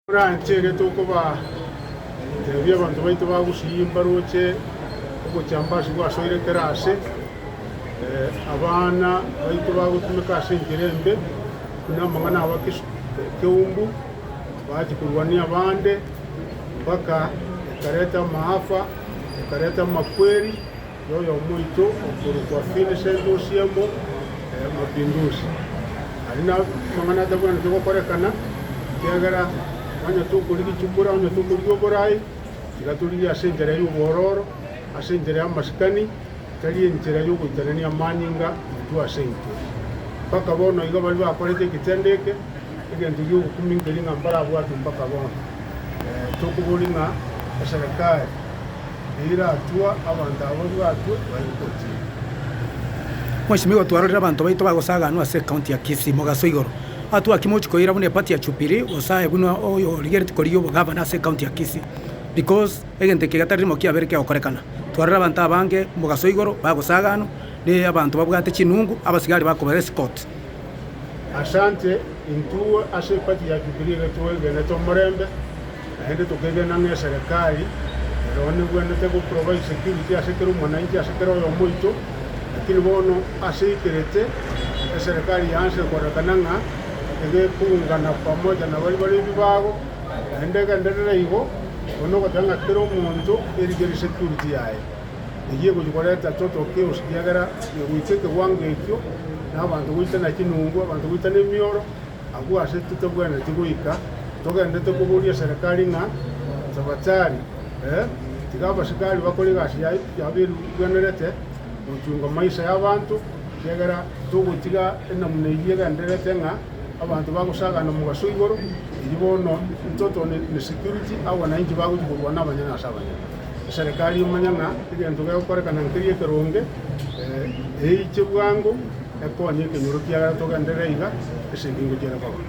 Oranche ere tokobaa ebi abanto baito bagusiyie mbaroche obochamba ase gwasoire kera aase. Abana baito bagotumeka ase enchera embe, buna amang'ana aba keumbu, baachia korwania abande, mpaka ekareta amaafa, ekareta amakweri. Noyomoito okorokwa Vincent Osiemo Mapinduzi. Aria namang'ana atabwenerete gokorekana, ekiagera onye tokorigia echikura, onye tokorigia oboraai, tiga torigie ase enchera y'obwororo, ase enchera y'amasikani, tari enchera y'ogoitanania amanyinga intwe ase intwe. Mpaka bono iga baria bakorete egetendo eke, Egento gi'ogokumi nkeri ng'a mbarabwate mpaka bono. Tokoboria ng'a eserekari eiratua abanto aba babwatwe baye gotiga. Mweshimiwa igo twarorire abanto baito bagosaganwa ase County ya Kisii mogaso igoro. Aa twaki mochi koira buna eparty ya Jubilee gose aye buna oyo origereti korigia obogavana ase County ya Kisii because egento eke getari rimo kiabere kegokorekana. Twarorire abanto abange mogaso igoro bagosaganwa ne abanto babwate chinungu abasigari bakobera escort. Asante, intwo ase epati ya Jubilee iga twegenete omorembe, naende tokegena ng'a eserekari ero nebwenerete goprovide security ase kera omwananchi, ase kera oyomo oito. Lakini bono ase aikerete, eserekari yaanchete koonekana ng'a nigo ekoungana pamoja na baria bare ebibago, naende egenderere igo, nonya ogoteba ng'a kera omonto erigerie security yaye. eyio egochia korenta toto chaos, ekiagera negoitwa ekewango ekio, na abanto goitana chinungu, abanto goitana emioro, agwo ase totabwenereti goika togenderete koboria eserekari ng'a tabatari, ee, tiga abasikari bakore egasi yaye yabo eribwenerete gochunga maisha y'abanto, ekiagera togotiga enamna eyio egendererete ng'a abanto bagosagana omobaso igoro, eyio bono toto ne security agwo nainche bagochia korwana abanyene ase abanyene. Omoserikari omanya ng'a egento gegokorekana nkeria ekeronge, eiche bwango ekonye ekenyoro kiagera togenderere iga ase ebiingo chiare koba.